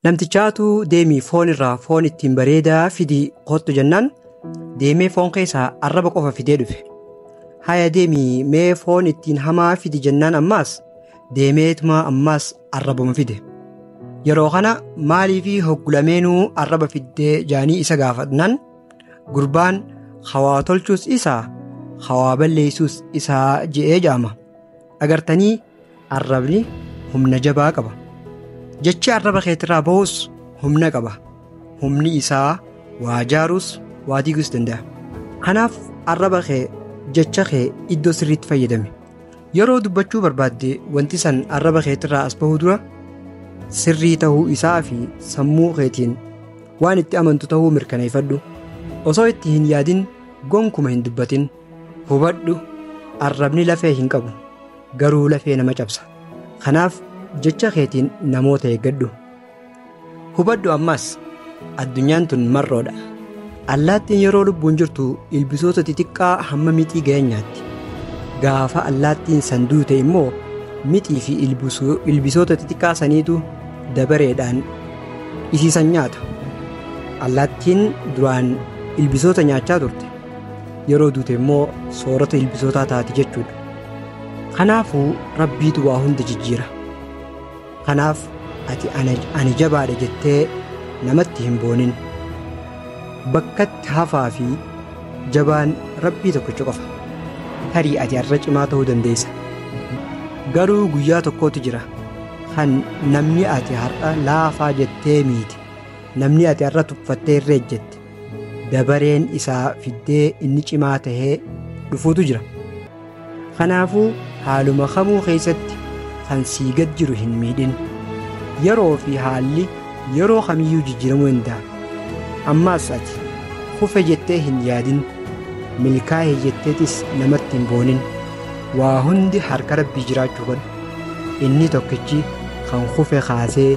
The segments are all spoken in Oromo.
Namtichaatu deemii foon irraa foon ittiin bareedaa fidii kottu jennaan deemee foon keessaa arraba qofa fidee dhufe. Haya deemii mee foon ittiin hamaa fidi jennaan ammaas deemeetuma ammaas arrabuma fide. Yeroo kana maaliifi hoggulameenuu arraba fiddee jaanii isa gaafatnaan gurbaan hawaa tolchuus isaa hawaa balleessuus isaa je'ee jaama. Agartanii Arrabni humna jabaa qaba. Jechi arraba keetirraa bahus humna qaba. Humni isaa waa jaaruus waa diiguus danda'a. Kanaaf arraba kee jecha kee iddoo sirriitti fayyadami. Yeroo dubbachuu barbaadde wanti san arraba keetirraa as bahuu dura sirrii ta'uu isaa fi sammuu keetiin waan itti amantu ta'uu mirkaneeffadhu. Osoo itti hin yaadin gonkuma hin dubbatin. Hubadhu arrabni lafee hin qabu. garuu lafee nama cabsa. Kanaaf jecha keetiin namoota eeggadhu. Hubadhu ammaas addunyaan tun marroodha. Allaattiin yeroo lubbuun jirtu ilbisoota xixiqqaa hamma mixii ga'an nyaatti. Gaafa allaattiin san duute immoo mixii fi ilbisu- ilbisoota xixiqqaa saniitu dabareedhaan isiisan nyaata. Allaattiin duraan ilbisoota nyaachaa turte. Yeroo duute immoo soorata ilbisootaa taati jechuudha. Kanaafuu Rabbiitu waa hunda jijjiira. Kanaaf ati ana, ani jabaadha jettee namatti hin boonin. Bakkatti hafaa fi jabaan Rabbii tokkicha qofa. Tarii ati har'a cimaa ta'uu dandeessa. Garuu guyyaa tokkotu jira kan namni ati har'a laafaa jettee miite, namni ati har'a tuffattee irra ejjette, dabareen isaa fiddee inni cimaa tahee dhufuutu jira. Kanaafuu haaluma kamuu keessatti kan sii gad jiru hin miidhin. Yeroo fi haalli yeroo kamiyyuu jijjiiramuu danda'a. Ammaas ati kufe jettee hin yaadin. Milkaa'e jetteetis namatti hin boonin. Waa hundi harka rabbii jiraachuu godha. Inni tokkichi kan kufe kaasee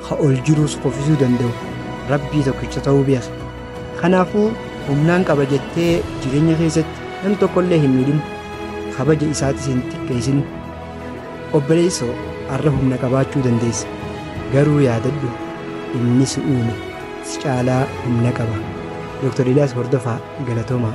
ka ol jiruus kufisuu danda'u Rabbii tokkicha ta'uu beeka. Kanaafuu humnaan qaba jettee jireenya keessatti nam tokkollee hin miidhin, kabaja isaatis hin xiqqeessin. Obboleesso har'a humna qabaachuu dandeessa, garuu yaadadhu inni si uume si caalaa humna qaba. Dr. Eliyaas Hordofaa Galatoomaa.